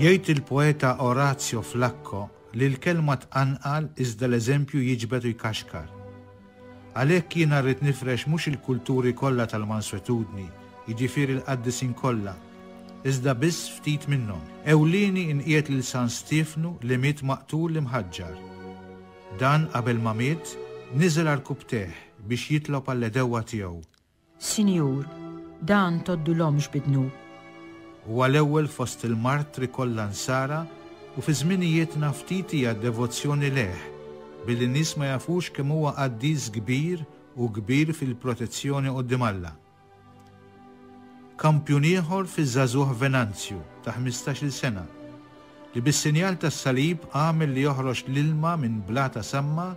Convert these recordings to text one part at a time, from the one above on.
Jgħid il-poeta Orazio Flacco li l-kelma tqanqal iżda l-eżempju jiġbed u jkaxkar. Għalhekk jiena rrid nifrex mhux il-kulturi kollha tal-manswetudni, jiġifieri l-qaddisin kollha, iżda biss ftit minnhom. Ewlieni inqiegħed lil San Stiefnu li miet maqtul imħaġġar. Dan qabel ma miet, niżel għal rkubtejh biex jitlob għall-għedewwa tiegħu. Sinjur, dan tgħoddulhomx bi dnub. Huwa l-ewwel fost il-martri kollha Nsara u fi żminijietna ftit hija d-devozzjoni lejh, billi n-nies ma jafux kemm huwa qaddis kbir u kbir fil-protezzjoni quddiem Alla. Kampjun ieħor fiż-żagħżugħ Venanzju, ta' ħmistax-il sena, li bis-sinjal tas-salib għamel li joħroġ l-ilma minn blata samma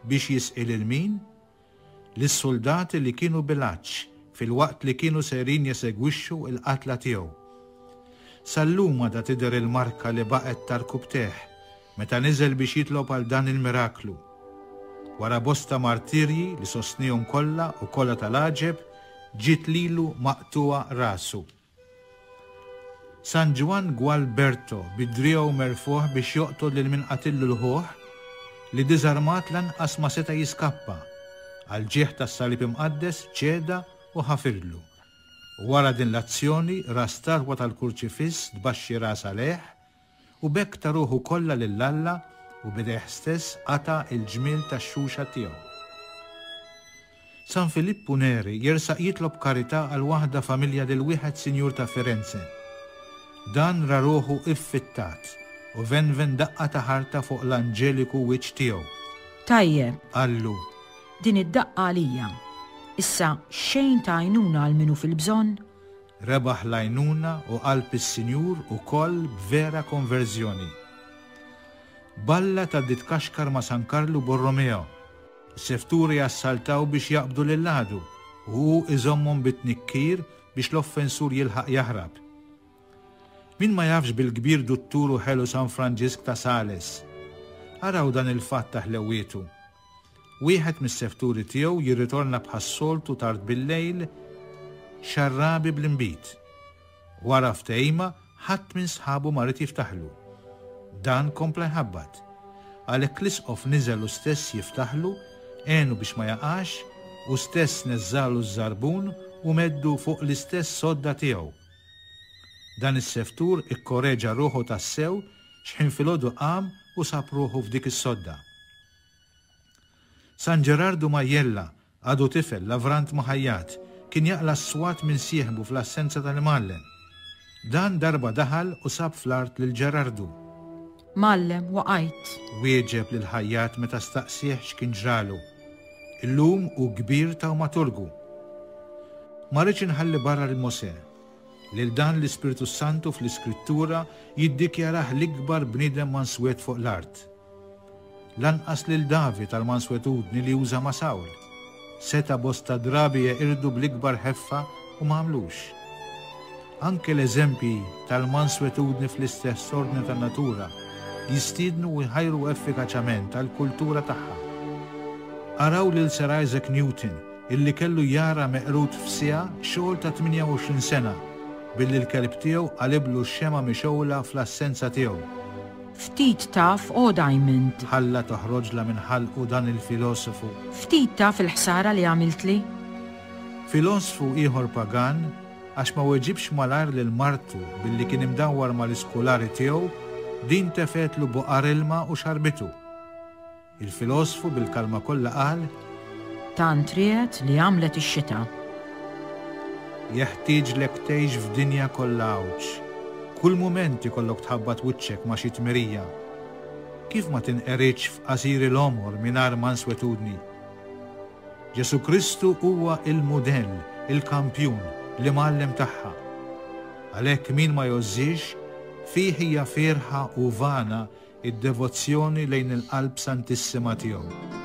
biex jisqi lil min? Lis-suldati li kienu bil-għatx filwaqt li kienu sejrin jesegwixxu l-qatla tiegħu. Sal-lum għadha tidher il-marka li baqgħet ta' rkubtejh, meta niżel biex jitlob għal dan il-miraklu. Wara bosta martirji li sostniehom kollha u kollha tal-għaġeb, ġiet lilu maqtugħa rasu. San Ġwann Gualberto bi driegħu merfugħ biex joqtol lil min qatillu l-ħuh, li diżarmat lanqas ma seta' jiskappa, għall-ġieħ tas-Salib Imqaddes ċeda u ħafirlu. Wara din l-azzjoni ra statwa tal-Kurċifiss tbaxxi ras għalejh U b'hekk ta ruħu kollha lil Alla u b'idejh stess qata' il-ġmiel tax-xuxa tiegħu. San Filippu Neri jersaq jitlob karità għal waħda familja lil wieħed sinjur ta' Firenze. Dan ra ruħu iffittat u venven daqqa ta' ħarta fuq l-anġeliku wiċċ tiegħu. Tajjeb, qallu, din id-daqqa għalija. Issa xejn ta' għajnuna għal min hu fil-bżonn? Rebaħ l-għajnuna u qalb is-Sinjur ukoll b'vera konverżjoni. Balla ta' Ditkaxkar ma' San Karlu Borromeo, is-sefturi jassaltaw biex jaqbdu lill-għadu u hu iżommhom bit-tnikkir biex l-offensur jilħaq jaħrab. Min ma jafx bil-kbir duttur u ħelu San Franġisk ta' Sales? Araw dan il-fatt ta' ħlewwietu. Wieħed mis-sefturi tiegħu jirritorna bħas-soltu tard bil-lejl xarrabi bl-inbid. Wara ftehima ħadd minn sħabu ma ried jiftaħlu. Dan kompla jħabbat. Għalhekk l-Isqof niżel hu stess jiftaħlu, għenu biex ma jaqax, hu stess neżżagħlu ż-żarbun u meddu fuq l-istess sodda tiegħu. Dan is-seftur ikkoreġa ruħu tassew x'ħin filgħodu qam u sab ruħu f'dik is-sodda. San Ġerardu Majella, għadu tifel, lavrant ma ħajjat, kien jaqla' s-swat minn sieħbu fl-assenza tal-Imgħallem. Dan darba daħal u sab fl-art lil Ġerardu. Mgħallem, waqajt. Wieġeb lil ħajjat meta staqsieh x'kien ġralu. Illum hu kbir tawmaturgu. Ma rridx inħalli barra lil Mosè. Lil dan l-Ispirtu s-Santu fl-Iskrittura jiddikjarah l-ikbar bniedem manswet fuq l-art. Lanqas lil David għall-manswetudni li uża ma' Sawl. Seta' bosta drabi jeqirdu bl-ikbar ħeffa u ma għamlux. Anke l-eżempji tal-manswetudni fl-istess ordni tan-natura jistiednu u jħajru effikaċament għall-kultura tagħha. Araw lil Sir Isaac Newton, illi kellu jara meqrud f'siegħa xogħol ta' 28 sena billi l-kelb tiegħu qaliblu x-xemgħa mixgħula fl-assenza tiegħu. Ftit taf O. Diamond. Ħalla toħroġla minn ħalqu dan il-filosofu. Ftit taf il-ħsara li għamiltli. Filosfu ieħor pagan għax ma weġibx malajr lil martu billi kien imdawwar mal-iskulari tiegħu, din tefgħetlu buqar ilma u xarbitu. Il-filosfu bil-kalma kollha qal. Tant riegħet li għamlet ix-xita. Jeħtieġlek tgħix f'dinja kollha għawġ. Kull mument ikollok tħabbat wiċċek ma' xi tmerija. Kif ma tinqeridx f'qasiri l-għomor mingħajr manswetudni? Ġesù Kristu huwa l-mudell, il-kampjun, l-imgħallem tagħha. Għalhekk min ma jgħożżiex, fih hija fierħa u vana id-devozzjoni lejn il-Qalb Santissima tiegħu.